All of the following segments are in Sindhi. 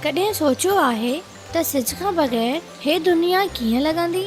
ڪڏهن سوچيو آهي ته سج کان بغير هي دنيا ڪيئن لڳندي؟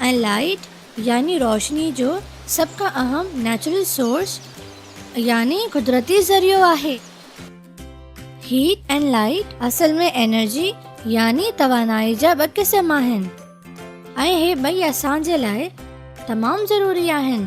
۽ لائيٽ يعني روشني جو سڀ کان اهم نيچرل سورس يعني قدرتي ذريعو آهي. هيٽ ۽ لائيٽ اصل ۾ انرجي يعني توانائي جا ٻه قسم آهن ۽ اهي ٻئي اسان جي لاء تمام ضروري آهن.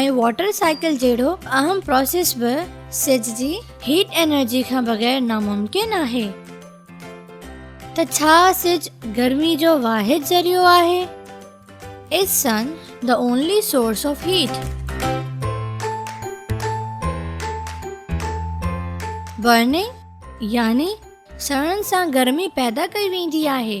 ۽ واٽر سائيڪل جهڙو اهم پراسيس به سج جي هيٽ انرجي کان بغير ناممڪن آهي. ته ڇا سج گرمي جو واحد ذريعو آهي؟ Is sun the only source of heat? Burning يعني سڙڻ سان گرمي پيدا ڪئي ويندي آهي.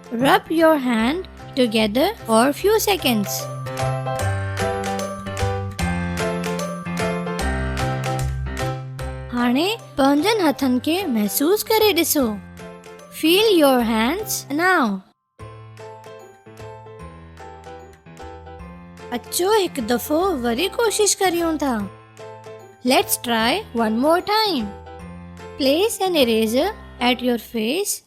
Rub your hand together for few seconds. هاڻي پنهنجن هٿن کي محسوس ڪري ڏسو. Feel your hands now. اچو هڪ دفعو وري ڪوشش ڪريون ٿا let's try one more time place an eraser at your face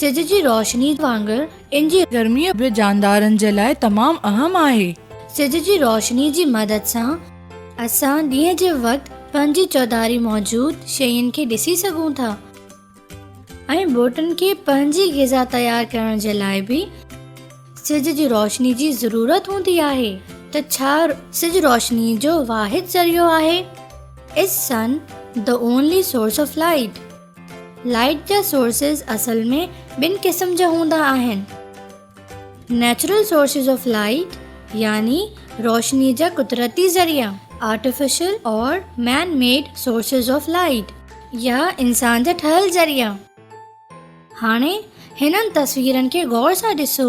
سج جي روشني وانگر ان جي گرمي به جاندارن جي لاء تمام اهم آهي. سج جي روشني جي مدد سان اسان ڏينهن جي وقت پنهنجي چوڌاري موجود شين کي ڏسي سگهون ٿا ۽ ٻوٽن کي پنهنجي غذا تيار ڪرڻ جي لاء به سج جي روشني جي ضرورت هوندي آهي ته ڇا سج روشني جو واحد ذريعو آهي؟ Is sun the only source of light؟ Light جا سورسز اصل ۾ ٻن قسم جا هوندا آهن. نيچرل سورسز آف لائيٽ يعني روشني جا قدرتي ذريعا، آرٽيفيشل اور man made sources of light يا انسان جا ٺهيل ذريعا. هاڻي هنن تصويرن کي غور سان ڏسو.